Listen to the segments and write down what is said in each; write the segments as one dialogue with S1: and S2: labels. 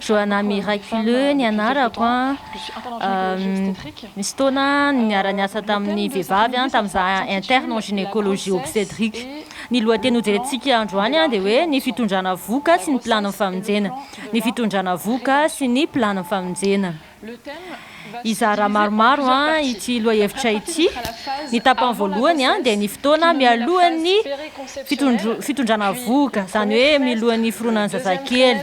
S1: Johanna Miraculeux
S2: ny anarako a, nisy fotoana aho niara niasa tamin'ny vehivavy a, tamin'ny za interne en gynécologie obstetrique. Ny lohateny hojerentsika androany a dia hoe ny fitondrana vohoka sy ny planin'ny famonjena, ny fitondrana vohoka sy ny planin'ny famonjena. Hizara maromaro ity lohahevitra ity. Ny tapany voalohany dia ny fotoana mialohan'ny fitondrana vohoka, izany hoe milohan'ny hiforonan'ny zazakely,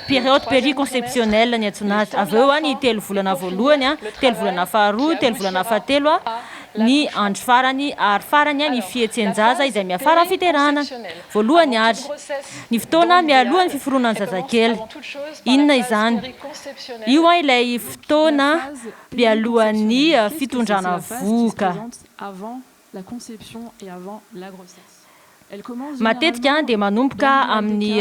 S2: période périconceptionnelle ny antsoina azy. Avy eo ny telo volana voalohany, telo volana faharoa, telo volana fahatelo, ny andro farany ary farany ny fihetsen-jaza izay miafara amin'ny fiterahana. Voalohany àry, ny fotoana mialohan'ny fiforonan'ny zazakely. Inona izany? Io an ilay fotoana mialohan'ny fitondrana vohoka. Matetika dia manomboka amin'ny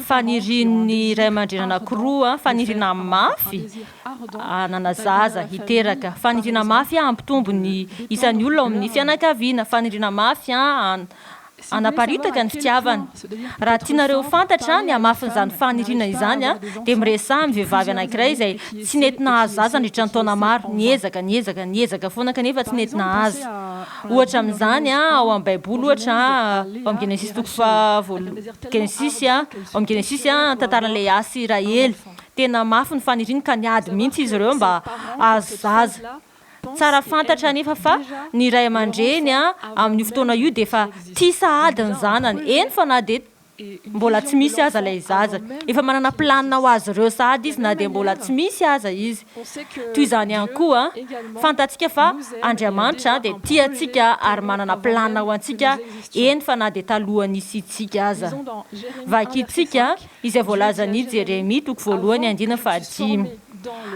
S2: fanirian'ny ray aman-dreny anankiroa, faniriana mafy hanana zaza, hiteraka, faniriana mafy hampitombo ny isan'ny olona ao amin'ny fianakaviana, faniriana mafy Hanaparitaka ny fitiavana. Raha tianareo ho fantatra ny hamafin'izany faniriana izany, dia miresaha amin'ny vehivavy anankiray izay tsy nety nahazo zaza nandritra ny taona maro. Niezaka, niezaka, niezaka foana kanefa tsy nety nahazo. Ohatra amin'izany, ao amin'ny Baiboly, ohatra, ao amin'ny Genesisy toko faha, Genesisy, ao amin'ny Genesisy, ny tantaran'i Lea sy Rahely. Tena mafy ny faniriany ka niady mihitsy izy ireo mba hahazo zaza. Tsara fantatra anefa fa ny ray aman-dreny amin'io fotoana io dia efa tia sahady ny zanany, eny fa na dia mbola tsy misy aza ilay zaza. Efa manana planina ho azy ireo sahady izy na dia mbola tsy misy aza izy. Toy izany ihany koa, fantatsika fa Andriamanitra dia tia antsika ary manana planina ho antsika, eny fa na dia talohan'ny hisiantsika aza. Vakintsika izay voalazan' i Jeremia toko voalohany andininy fahadimy.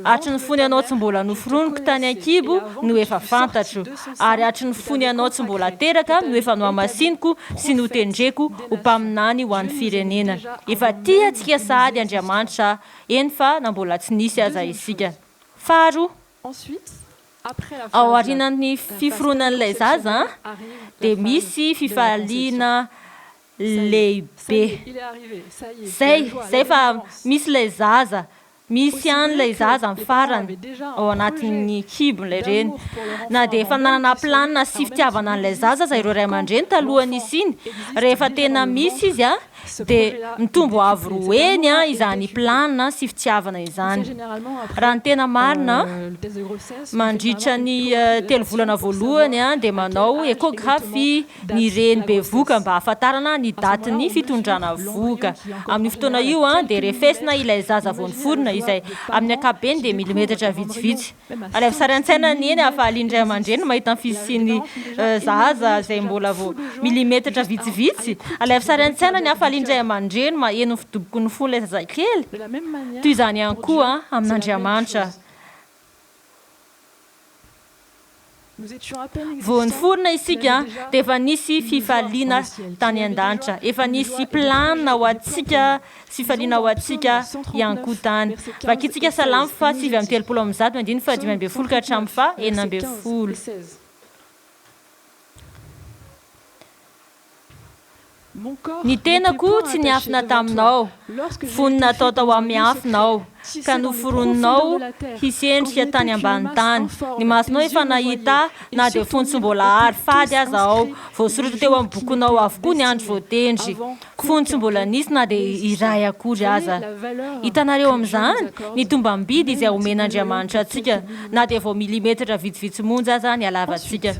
S2: Hatry ny fony anao tsy mbola noforoniko tany an-kibo no efa fantatro, ary hatry ny fony anao tsy mbola teraka no efa nohamasiniko sy notendreko ho mpaminany ho an'ny firenena. Efa tia antsika sahady Andriamanitra, eny fa na mbola tsy nisy aza isika. Faharoa, ao aorianan'ny fiforonan'ilay zaza dia misy fifaliana lehibe zay zay fa misy ilay zaza misy any ilay zaza ny farany ao anatin'ny kibon'ilay reny na dia efa nanana planina sy fitiavana an'ilay zaza aza ireo ray aman-dreny talohan'ny hisiany rehefa tena misy izy a dia mitombo avo roa heny a izany planina sy fitiavana izany raha ny tena marina mandritra ny telo volana voalohany a dia manao échographie ny reny bevoka mba hahafantarana ny datin'ny fitondrana vohoka. Amin'io fotoana io dia refesina ilay zaza vao niforona izay amin'ny ankapobeny dia milimetatra vitsivitsy. Alaivo sary an-tsaina ny eny hahafalian'ny ray aman-dreny mahita ny fisian'ny zaza izay mbola vao milimetatra vitsivitsy. Alaivo sary an-tsaina ny hahafalian'ny ray aman-dreny maheno ny fidoboky ny fon'ilay zazakely. Toy izany ihany koa amin'Andriamanitra. Vao niforona isika dia efa nisy fifaliana tany an-danitra, efa nisy planina ho antsika, fifaliana ho antsika ihany koa tany. Vakintsika Salamo faha sivy amby telopolo amin'ny zato, andininy faha dimy ambin'ny folo ka hatramin'ny faha enina ambin'ny folo. Ny tenako tsy niafina taminao, fony natao tao amin'ny afo nao, ka noforoninao hisendrika tany ambany tany. Ny masonao efa nahita ahy, na dia fony tsy mbola àry fady aza aho. Voasoratra teo amin'ny bokinao avokoa ny andro voatendry, fony tsy mbola nisy na dia iray akory aza. Hitanareo amin'izany? Ny tombam-bidy izay omen'Andriamanitra antsika, na dia vao milimetatra vitsivitsy monja aza ny halavantsika.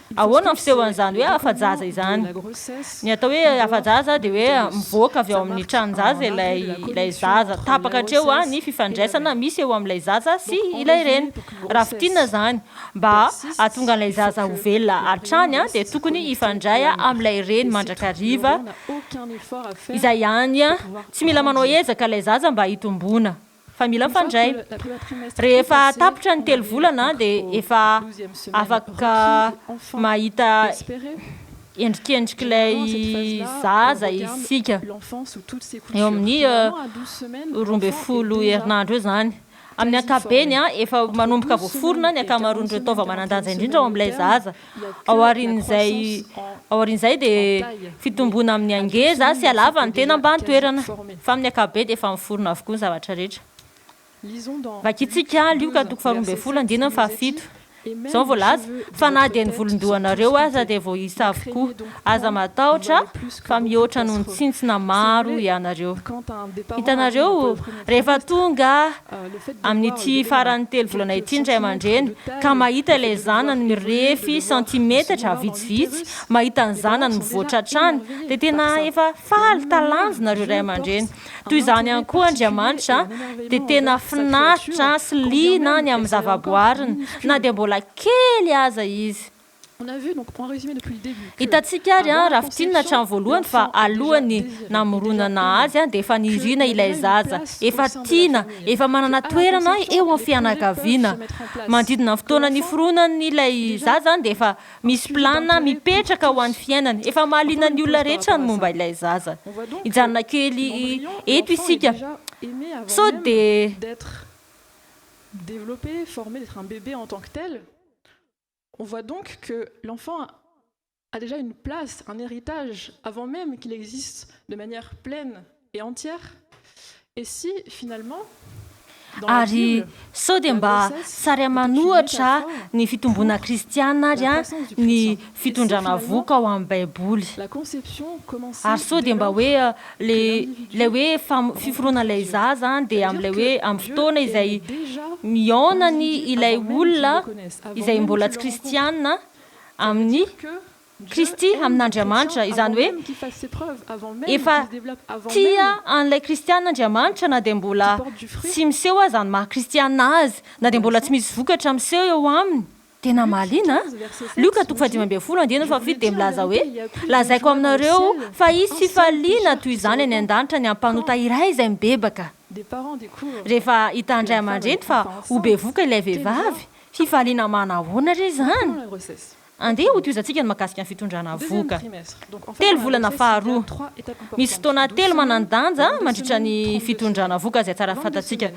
S2: Ahoana ny fisehoan'izany hoe afa-jaza izany? Ny atao hoe afa-jaza dia hoe mivoaka avy ao amin'ny tranon-jaza ilay ilay zaza. Tapaka hatreo ny fifandraisana misy eo amin'ilay zaza sy ilay reny. Raha fintinina izany, mba hahatonga an'ilay zaza ho velona hatrany dia tokony hifandray amin'ilay reny mandrakariva. Izay ihany, tsy mila manao ezaka ilay zaza mba hitomboana. fa mila mifandray. Rehefa tapitra ny telo volana dia efa afaka mahita endrikendrik'ilay zaza isika, eo amin'ny roa ambin'ny folo herinandro eo izany. Amin'ny ankapobeny, efa manomboka voaforona ny ankamaroan'ireo taova manan-danja indrindra ao amin'ilay zaza. Aorian'izay aorian'izay dia fitomboana amin'ny hangeza sy halavan'ny tena mba an-toerana, fa amin'ny ankapobe dia efa miforona avokoa ny zavatra rehetra. Vakintsika Lioka toko faharoa ambin'ny folo andininy fahafito. Izao no voalaza, Fa na dia ny volon-dohanareo aza dia voaisa avokoa. Aza matahotra fa mihoatra noho ny tsintsina maro ianareo. Hitanareo, rehefa tonga amin'ity faran'ny telo volana ity ny ray aman-dreny ka mahita ilay zanany mirefy santimetatra vitsivitsy, mahita ny zanany mivoatra hatrany, dia tena efa faly talanjona ireo ray aman-dreny. Toy izany ihany koa Andriamanitra dia tena finaritra sy liana ny amin'ny zavaboariny, na dia mbola kely aza izy. Hitantsika ary raha fintinina hatrany voalohany fa alohan'ny namoronana azy dia efa nirina ilay zaza, efa tiana, efa manana toerana eo amin'ny fianakaviana. Manodidina ny fotoana niforonany ilay zaza dia efa misy plan mipetraka ho an'ny fiainany, efa mahaliana ny olona rehetra ny momba ilay zaza. Hijanona kely eto isika, sao dia.
S1: On voit donc que l'enfant a déjà une place, un héritage avant même qu'il existe de manière pleine et entière. Et si finalement
S2: Ary sao dia mba sariaman ohatra ny fitomboana kristiana ary ny fitondrana vohoka ao amin'ny Baiboly. Ary sao dia mba hoe Le ilay hoe fam- fiforonan'ilay zaza an, dia amin'ilay hoe amin'ny fotoana izay mihaonany ilay olona izay mbola tsy kristiana amin'i Kristy, amin'Andriamanitra. Izany hoe efa tia an'ilay kristiana Andriamanitra na dia mbola tsy miseho aza ny maha-kristiana azy, na dia mbola tsy misy vokatra miseho eo aminy. Tena mahaliana an! Lioka toko fahadimy ambin'ny folo andininy fahafito dia milaza hoe, Lazaiko aminareo fa hisy fifaliana toy izany any an-danitra ny ampanota iray izay mibebaka. Rehefa hitan'ny ray aman-dreny fa ho bevoka ilay vehivavy, fifaliana manahoana re izany? Andeha hotohizantsika ny mahakasika ny fitondrana vohoka. Telo volana faharoa. Misy fotoana telo manan-danja mandritra ny fitondrana vohoka izay tsara fantatsika.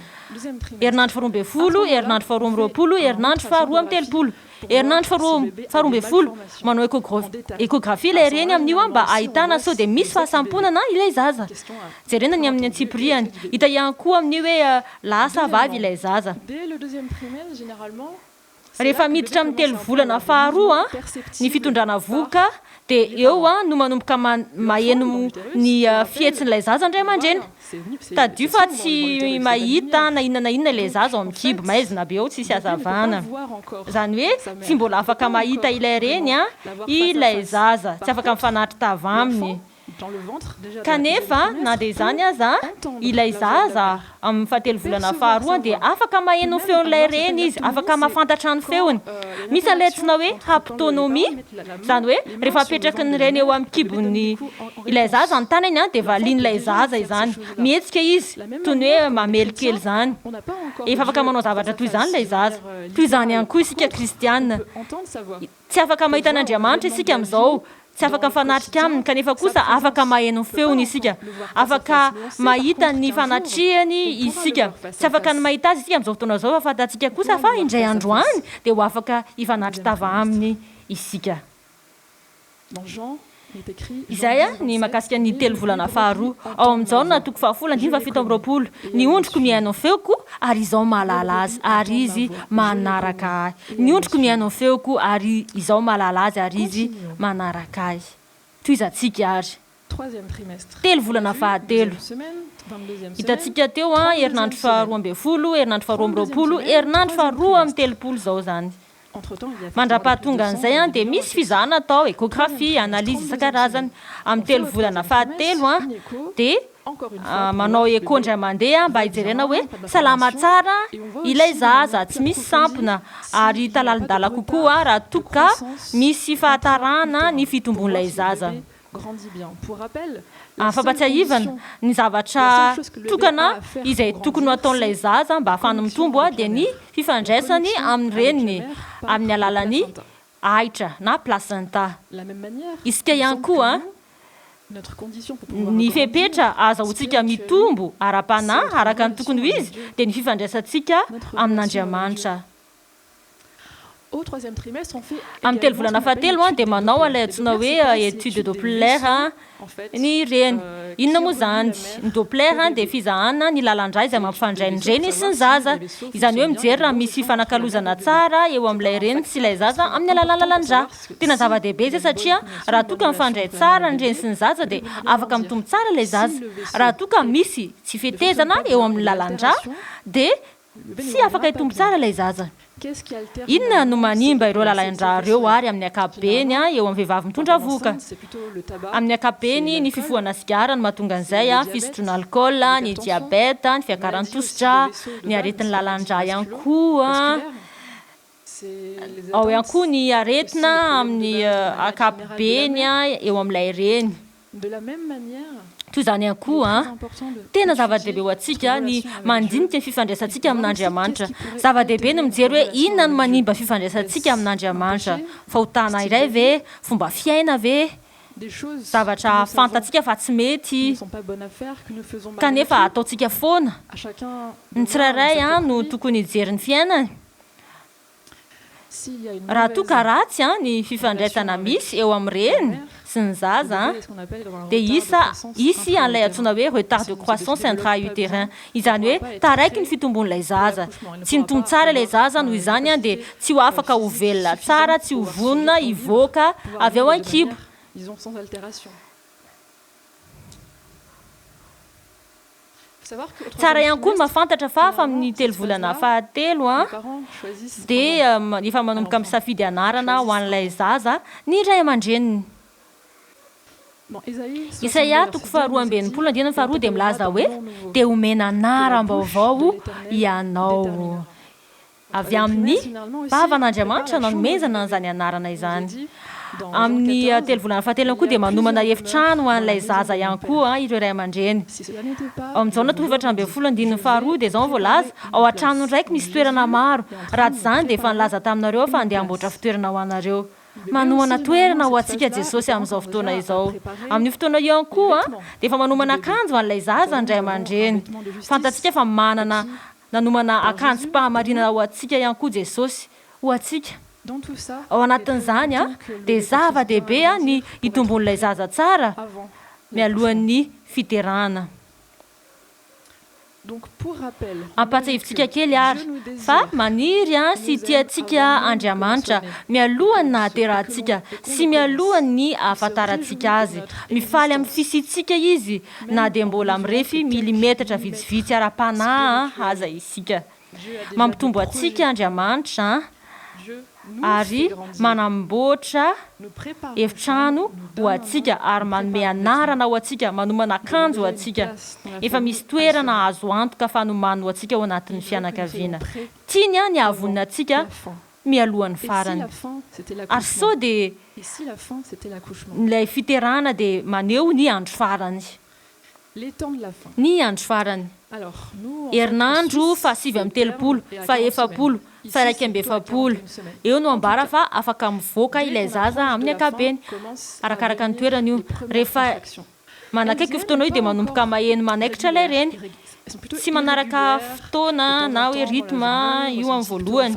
S2: Herinandro faharoa ambin'ny folo, herinandro faharoa amby roapolo, herinandro faharoa amby telopolo, herinandro faharoa faharoa ambin'ny folo. Manao échogra- échographie ilay reny amin'io an, mba ahitana sao dia misy fahasamponana ilay zaza. Jerena ny amin'ny antsipiriany. Hita ihany koa amin'io hoe lahy sa vavy ilay zaza. Rehefa miditra amin'ny telo volana faharoa ny fitondrana vohoka dia eo no manomboka maheno ny fihetsin'ilay zaza ny ray aman-dreny. Tadidio fa tsy mahita na inona na inona ilay zaza ao amin'ny kibo, maizina be ao tsisy hazavana. Izany hoe tsy mbola afaka mahita ilay reny ilay zaza, tsy afaka mifanatri-tava aminy. Kanefa, na dia izany aza, ilay zaza, amin'ny fahatelo volana faharoa, dia afaka maheno ny feon'ilay reny izy, afaka mahafantatra ny feony. Misy an'ilay antsoina hoe haptonomie, izany hoe rehefa apetraky ny reny eo amin'ny kibon'ny ilay zaza ny tanany, dia valian'ilay zaza izany. Mihetsika izy, toy ny hoe mamely kely izany. Efa afaka manao zavatra toy izany ilay zaza. Toy izany ihany koa isika kristiana. Tsy afaka mahita an'Andriamanitra isika amin'izao, tsy afaka mifanatrika Aminy, kanefa kosa afaka maheno ny Feony isika. Afaka mahita ny fanatrehany isika. Tsy afaka ny mahita Azy isika amin'izao fotoana izao, fa fantatsika kosa fa indray andro any dia ho afaka hifanatri-tava Aminy isika. Izay ny mahakasika ny telo volana faharoa. Ao amin'i Jaona toko fahafolo andininy fahafito amby roapolo, Ny ondriko mihaino ny feoko, ary Izaho mahalala azy, ary izy manaraka Ahy. Ny ondriko mihaino ny feoko, ary Izaho mahalala azy, ary izy manaraka Ahy. Tohizantsika àry. Telo volana fahatelo. Hitantsika teo, herinandro faharoa ambin'ny folo, herinandro faharoa amby roapolo, herinandro faharoa amby telopolo izao izany. Mandra-pahatongan'izay dia misy fizahana atao, échographie, analyse isan-karazany. Amin'ny telo volana fahatelo dia manao écho indray mandeha mba hijerena hoe salama tsara ilay zaza, tsy misy sampona ary hita lalindala kokoa raha toa ka misy fahatarana ny fitombon'ilay zaza.
S1: Fampatsiahivana,
S2: ny zavatra tokana izay tokony ho ataon'ilay zaza mba hahafahany mitombo dia ny fifandraisany amin'ny reniny amin'ny alalan'ny ahitra na placenta. Isika ihany koa, ny fepetra ahazahoantsika mitombo ara-panahy araka ny tokony ho izy dia ny fifandraisantsika amin'Andriamanitra. Amin'ny telo volana fahatelo dia manao an'ilay antsoina hoe étude de Doppler ny reny. Inona moa izany? Ny Doppler dia fizahana ny lalan-drà izay mampifandray ny reny sy ny zaza. Izany hoe mijery raha misy fifanakalozana tsara eo amin'ilay reny sy ilay zaza amin'ny alalan'ny lalan-drà. Tena zava-dehibe izay satria raha toa ka mifandray tsara ny reny sy ny zaza dia afaka mitombo tsara ilay zaza. Raha toa ka misy tsy fetezana eo amin'ny lalan-drà dia Tsy afaka hitombo tsara ilay zaza. Inona no manimba ireo lalain-drà ireo àry amin'ny ankapobeny eo amin'ny vehivavy mitondra vohoka? Amin'ny ankapobeny, ny fifohana sigara no mahatonga an'izay, fisotroana alkaola, ny diabeta, ny fiakaran'ny tosi-drà, ny aretin'ny lalan-drà ihany koa. Ao ihany koa ny aretina amin'ny ankapobeny eo amin'ilay reny. Toy izany ihany koa, tena zava-dehibe ho antsika ny mandinika ny fifandraisantsika amin'Andriamanitra. Zava-dehibe ny mijery hoe inona no manimba ny fifandraisantsika amin'Andriamanitra. Fahotana iray ve? Fomba fiaina ve? Zavatra fantatsika fa tsy mety, kanefa ataontsika foana? Ny tsirairay no tokony hijery ny fiainany. Raha toa ka ratsy ny fifandraisana misy eo amin'ny reny sy ny zaza, dia hisa hisy an'ilay antsoina hoe retard de croissance intra-utérin, izany hoe taraiky ny fitombon'ilay zaza. Tsy nitombo tsara ilay zaza, noho izany dia tsy ho afaka ho velona tsara, tsy ho vonona hivoaka avy ao an-kibo. Tsara ihany koa ny mahafantatra fa hafa amin'ny telo volana fahatelo dia efa manomboka misafidy anarana ho an'ilay zaza ny ray aman-dreniny. Isaia toko faharoa amby enimpolo andininy faharoa dia milaza hoe, Dia homena anaram-baovao ianao. Avy amin'ny vavan'Andriamanitra nanomezana an'izany anarana izany. Amin'ny telo volana fahatelony koa dia manomana efitrano ho an'ilay zaza ihany koa ireo ray aman-dreny. Ao amin'ny Jaona tohefatra ambin'ny folo andininy faharoa dia izao no voalaza, Ao an-tranony raiko misy toerana maro, raha tsy izany dia efa nilaza taminareo aho fa handeha hamboatra fitoerana ho anareo. Manohana toerana ho antsika Jesosy amin'izao fotoana izao. Amin'io fotoana io ihany koa dia efa manomana akanjo ho an'ilay zaza ny ray aman-dreny. Fantatsika fa manana Nanomana akanjom-pahamarinana ho antsika ihany koa Jesosy, ho antsika. Ao anatin'izany, dia zava-dehibe ny hitombon'ilay zaza tsara mialohan'ny fiderana. Ampahatsiahivintsika kely àry fa maniry sy tia antsika Andriamanitra mialohan'ny nahaterahantsika sy mialohan'ny ahafantarantsika azy. Mifaly amin'ny fisiantsika izy na dia mbola mirefy milimetatra vitsivitsy ara-panahy aza isika. Mampitombo antsika Andriamanitra ary manamboatra efitrano ho antsika ary manome anarana ho antsika, manomana akanjo ho antsika. Efa misy toerana azo antoka fanomany ho antsika ao anatin'ny fianakaviana. Tiany ny hahavonona antsika mialoha ny farany. Ary sao dia ilay fiterahana dia maneho ny andro farany. Ny andro farany. Herinandro fahasivy amby telopolo, fahefapolo, fairaika amby efapolo eo no ambara fa afaka mivoaka ilay zaza amin'ny ankapobeny. Arakaraka ny toerana io. Rehefa Manakaiky io fotoana io dia manomboka maheno manaikitra ilay reny. Tsy manaraka fotoana na hoe rythme io amin'ny voalohany.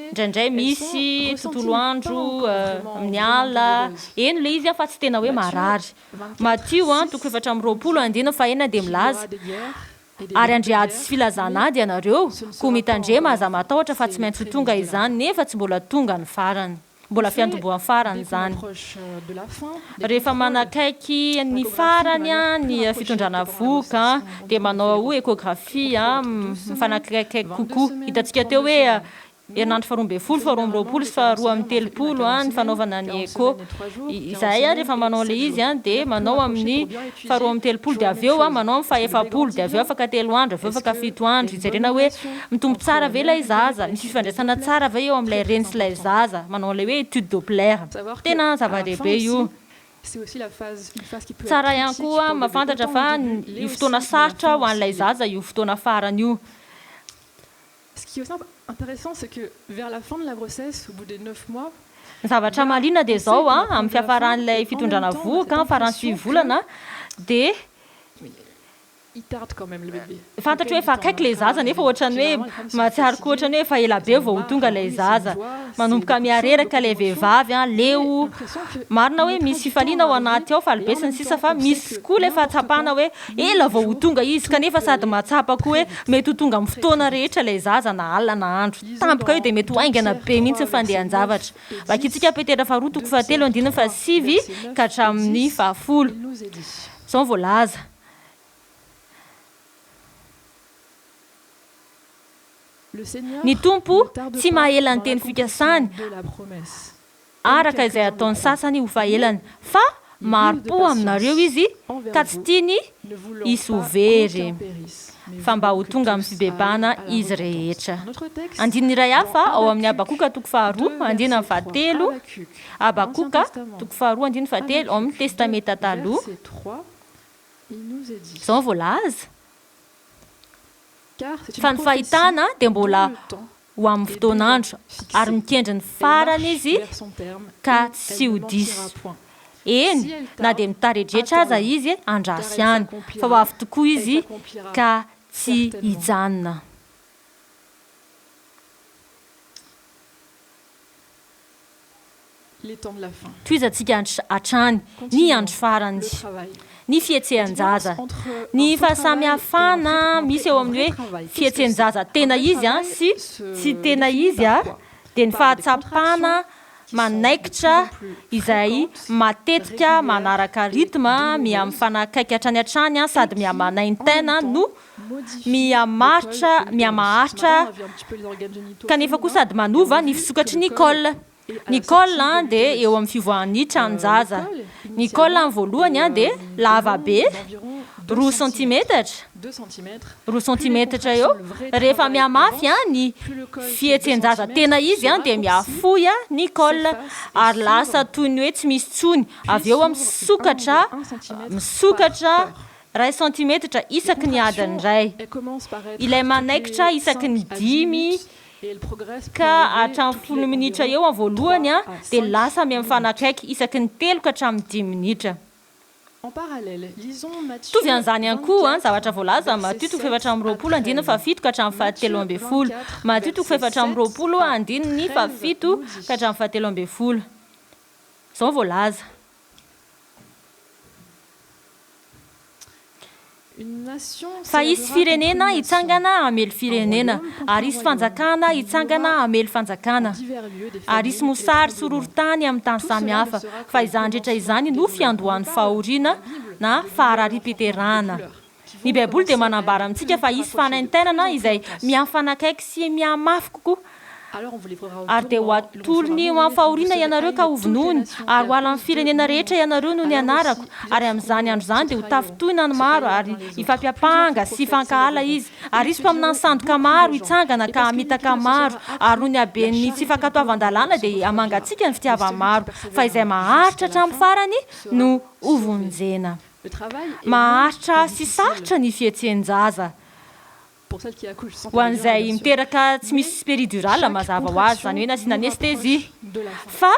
S2: Indraindray misy tontolo andro amin'ny alina, heno ilay izy fa tsy tena hoe marary. Matio an, toko efatra amby roapolo andininy fahenina dia milaza, Ary handre ady sy filazana ady ianareo, koa mitandrema, aza matahotra, fa tsy maintsy ho tonga izany, nefa tsy mbola tonga ny farany. Mbola fiantombohan'ny farany izany. Rehefa manakaiky ny farany ny fitondrana vohoka dia manao hoe échographie mifanakaikaiky kokoa. Hitantsika teo hoe herinandro faharoa ambin'ny folo, faharoa amby roapolo sy faharoa amby telopolo ny fanaovana ny echo. Izahay rehefa manao ilay izy dia manao amin'ny faharoa amby telopolo dia avy eo manao ny fahefapolo dia avy eo afaka telo andro avy eo afaka fito andro hijerena hoe mitombo tsara ve ilay zaza, misy fifandraisana tsara ve eo amin'ilay reny sy ilay zaza, manao an'ilay hoe étude doppler. Tena zava-dehibe io.
S1: Tsara ihany koa
S2: mahafantatra fa io fotoana sarotra ho an'ilay zaza io fotoana farany io.
S1: Ce qui est aussi intéressant c'est que vers la fin de la grossesse, au bout des neuf mois, Ny zavatra mahaliana
S2: dia izao an, amin'ny fiafaran'ilay fitondrana vohoka, faran'ny sivy volana, dia
S1: il tarde quand même le bébé, fantatro hoe efa akaiky ilay
S2: zaza nefa ohatran'ny hoe mahatsiaro koa ohatran'ny hoe efa ela be vao ho tonga ilay zaza, manomboka mihareraka ilay vehivavy an, leo, marina hoe misy fifaliana ao anaty ao, faly be sy ny sisa, fa misy koa ilay fahatsapana hoe. Ela vao ho tonga izy kanefa sady mahatsapa koa hoe mety ho tonga amin'ny fotoana rehetra ilay zaza na alina na andro. Tampoka io dia mety ho haingana be mihitsy ny fandehan-javatra. Vakintsika Petera faharoa toko fahatelo andininy fahasivy ka hatramin'ny fahafolo. Izao no voalaza. Ny Tompo tsy maha ela ny teny fikasany. araka izay ataon'ny sasany ho fahelany, fa mari-po aminareo izy ka tsy tiany hisy ho very, fa mba ho tonga amin'ny fibebahana izy rehetra. Andininy iray hafa ao amin'ny Habakoka toko faharoa andininy fahatelo, Habakoka toko faharoa andininy fahatelo ao amin'ny Testamenta Taloha, izao no voalaza, Fa ny fahitana dia mbola ho amin'ny fotoan'andro, ary mikendry ny farany izy ka tsy ho diso. Eny, na dia mitaredretra aza izy, andraso ihany, fa ho avy tokoa izy ka tsy hijanona. Tohizantsika hatrany ny andro farany ny fihetsehan-jaza. Ny fahasamihafana misy eo amin'ny hoe fihetsehan-jaza tena izy sy tsy tena izy dia ny fahatsapana manaikitra izay matetika manaraka rythme miha-mifanakaiky hatrany hatrany sady miha-manaintaina no mihamaritra, mihamaharitra, kanefa koa sady manova ny fisokatry ny col. Ny col dia eo amin'ny fivoahan'ny tranon-jaza. Ny col voalohany dia lava be, roa santimetatra, roa santimetatra eo. Rehefa mihamafy ny fihetsen-jaza tena izy dia mihafoy ny col ary lasa toy ny hoe tsy misy intsony. Avy eo misokatra, misokatra Iray santimetatra isaky ny adiny iray. Ilay manaikitra isaky ny dimy ka hatramin'ny folo minitra eo amin'ny voalohany dia lasa mifanakaiky isaky ny telo ka hatramin'ny dimy minitra. Mitovy an'izany ihany koa ny zavatra voalaza amin'ny Matio toko fahefatra amby roapolo andininy fahafito ka hatramin'ny fahatelo ambin'ny folo. Matio toko fahefatra amby roapolo andininy fahafito ka hatramin'ny fahatelo ambin'ny folo. Izao no voalaza. Fa hisy firenena hitsangana hamely firenena, ary hisy fanjakana hitsangana hamely fanjakana, ary hisy mosary sy horohorontany amin'ny tany samy hafa, fa izany rehetra izany no fiandohan'ny fahoriana na faharariam-piterahana. Ny Baiboly dia manambara amintsika fa hisy fanaintainana izay mihafanakaiky sy mihamafy kokoa. Ary dia hoatolony ho amin'ny fahoriana ianareo ka hovonoiny, ary ho alan'ny firenena rehetra ianareo noho ny anarako, ary amin'izany andro izany dia hotafintohina ny maro ary hifampiampanga sy hifankahala izy, ary hisy mpaminany sandoka maro hitsangana ka hamitaka maro, ary noho ny haben'ny tsy fankatoavan-dalàna dia hamangatsiaka ny fitiavan-maro, fa izay maharitra hatramin'ny farany no hovonjena. Maharitra sy sarotra ny fihetsehn-jaza ho an'izay miteraka tsy misy péridurale mazava ho azy, izany hoe nasiana anesthésie. Fa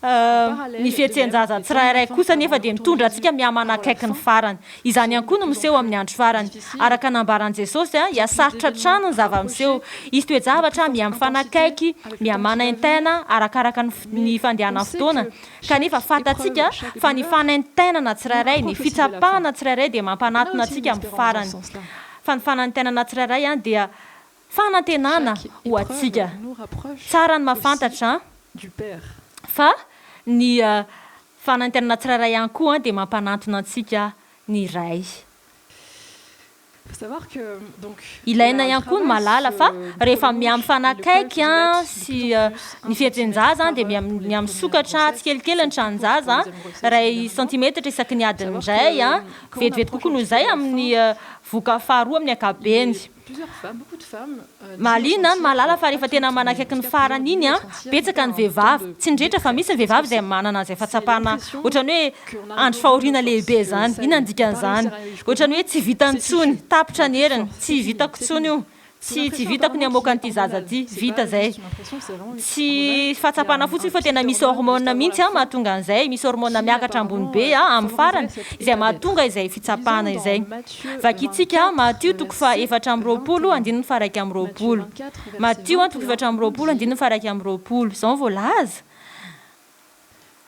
S2: ny fihetsehn-jaza tsirairay kosa anefa dia mitondra antsika mihamanakaiky ny farany. Izany ihany koa no miseho amin'ny andro farany. Araka ny nambaran'i Jesosy, dia sarotra hatrany ny zava-miseho. Hisy toe-javatra miha-mifanakaiky, miha-manaintaina arakaraka ny fandehanan'ny fotoana. Kanefa fantatsika fa ny fanaintainana tsirairay, ny fitsapana tsirairay dia mampanatona antsika amin'ny farany. Fa ny fanaintainana tsirairay dia fanantenana ho antsika. Tsara ny mahafantatra fa ny fanaintainana tsirairay ihany koa dia mampanantona antsika ny Ray. Ilaina ihany koa ny mahalala fa rehefa miha mifanakaiky sy ny fihetren-jaza dia miha misokatra tsikelikely ny tranon-jaza, iray santimetatra isaky ny adiny iray, vetivety kokoa noho izay amin'ny vohoka faharoa amin'ny ankapobeny. Mahaliana ny mahalala fa rehefa tena manakaiky ny farany iny an, betsaka ny vehivavy, tsy ny rehetra fa misy ny vehivavy izay manana an'izay fahatsapana ohatran'ny hoe andry fahoriana lehibe izany. Inona ny dikan'izany? Ohatran'ny hoe tsy vitany intsony, tapitra ny heriny, tsy vitako intsony io, tsy tsy vitako ny hamoaka an'ity zaza ity, vita izay. Tsy fahatsapana fotsiny fa tena misy hormone mihitsy an mahatonga an'izay, misy hormone miakatra ambony be an amin'ny farany izay mahatonga izay fitsapana izay. Vakintsika Matio toko fahaefatra amby roapolo andininy faharaika amby roapolo. Matio an, toko efatra amby roapolo andininy faharaika amby roapolo. Izao no voalaza,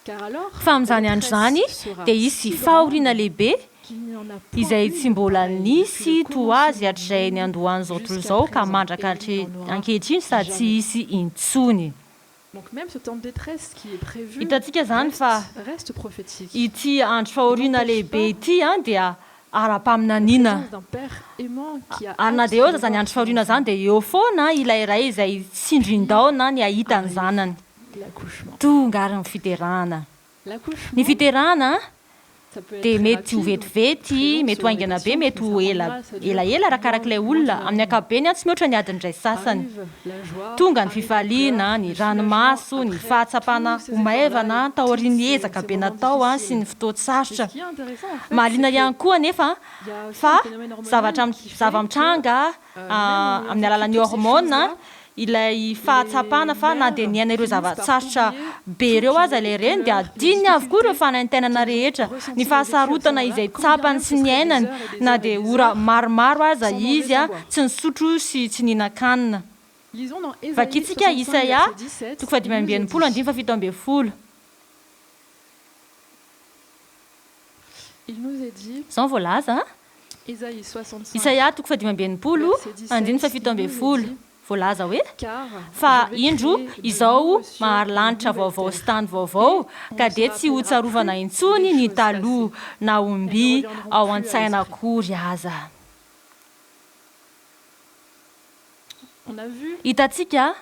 S2: Fa amin'izany andro izany dia hisy fahoriana lehibe, izay tsy mbola nisy toa azy hatrizay niandohan'izao tontolo izao ka mandraka ankehitriny sady tsy hisy intsony. Hitantsika izany fa ity andro fahoriana lehibe ity dia ara-paminaniana. Ary na dia eo aza izany andro fahoriana izany dia eo foana ilay ray izay tsindrin-daona ny hahita ny zanany. Tonga àry ny fiderana! Ny fiterahana dia mety ho vetivety, mety ho haingana be, mety ho ela elaela arakaraka ilay olona, amin'ny ankapobeny tsy mihoatra ny adiny iray sasany. Tonga ny fifaliana, ny ranomaso, ny fahatsapana ho maivana taorian'ny ezaka be natao sy ny fotoan-tsarotra. Mahaliana ihany koa anefa fa zavatra zava-mitranga amin'ny alalan'ny hormona, ilay fahatsapana fa na dia niaina ireo zava-tsarotra be ireo aza ilay reny dia adinony avokoa ireo fanaintainana rehetra, ny fahasarotana izay tsapany sy niainany na dia ora maromaro aza izy tsy nisotro sy tsy nihinan-kanina. Vakintsika Isaia, toko fahadimy amby enimpolo, andininy fahafito ambin'ny folo. Izao no voalaza an. Isaia toko fahadimy amby enimpolo andininy fahafito ambin'ny folo. Voalaza hoe, Fa indro, izao mahary lanitra vaovao sy tany vaovao, ka dia tsy hotsarovana intsony ny taloha, na ho mby ao an-tsaina akory aza. Hitantsika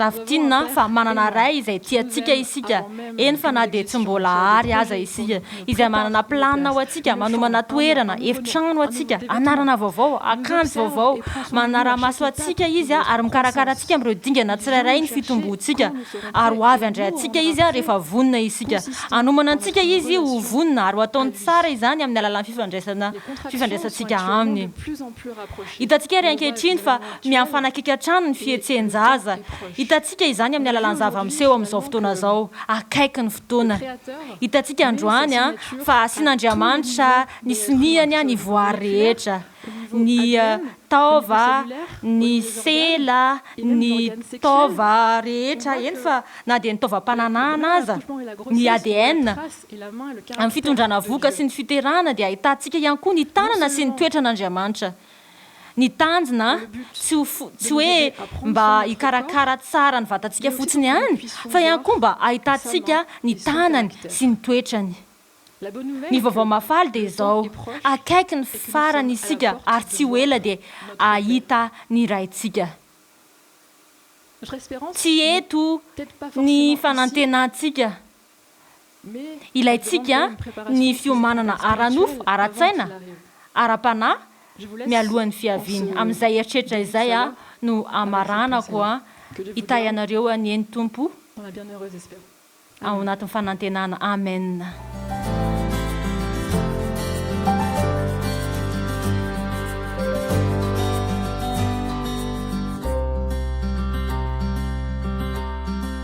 S2: Raha fintinina fa manana Ray izay tia antsika isika, eny fa na dia tsy mbola àry aza isika, izay manana planina ho antsika, manomana toerana, efitrano ho antsika, anarana vaovao, akanjo vaovao, manara-maso antsika Izy ary mikarakara antsika amin'ireo dingana tsirairay ny fitomboantsika, ary ho avy handray antsika Izy rehefa vonona isika. Hanomana antsika Izy ho vonona ary ho ataony tsara izany amin'ny alalan'ny fifandraisantsika Aminy. Hitantsika àry ankehitriny fa Mihafanakaiky hatrany ny fihetsehn-jaza. Hitantsika izany amin'ny alalan'ny zava-miseho amin'izao fotoana izao. Akaiky ny fotoana. Hitantsika androany fa asian'Andriamanitra ny soniany ny voary rehetra. Ny taova, ny sela, ny taova rehetra, eny fa na dia ny taovam-pananahana aza. Ny ADN. Amin'ny fitondrana vohoka sy ny fiterahana dia ahitantsika ihany koa ny tanana sy ny toetran'Andriamanitra. Ny tanjona tsy ho tsy hoe mba hikarakara tsara ny vatantsika fotsiny ihany fa ihany koa mba hahitantsika ny tanany sy ny toetrany. Ny vaovao mahafaly dia izao, akaiky ny farany isika ary tsy ho ela dia hahita ny Raintsika. Tsy eto ny fanantenantsika Ilaintsika ny fiomanana ara-nofo, ara-tsaina, ara-panahy mialohan'ny fiaviany. Amin'izay eritreritra izay aho no hamaranako hitahy anareo anie ny Tompo ao anatin'ny fanantenana. Amen.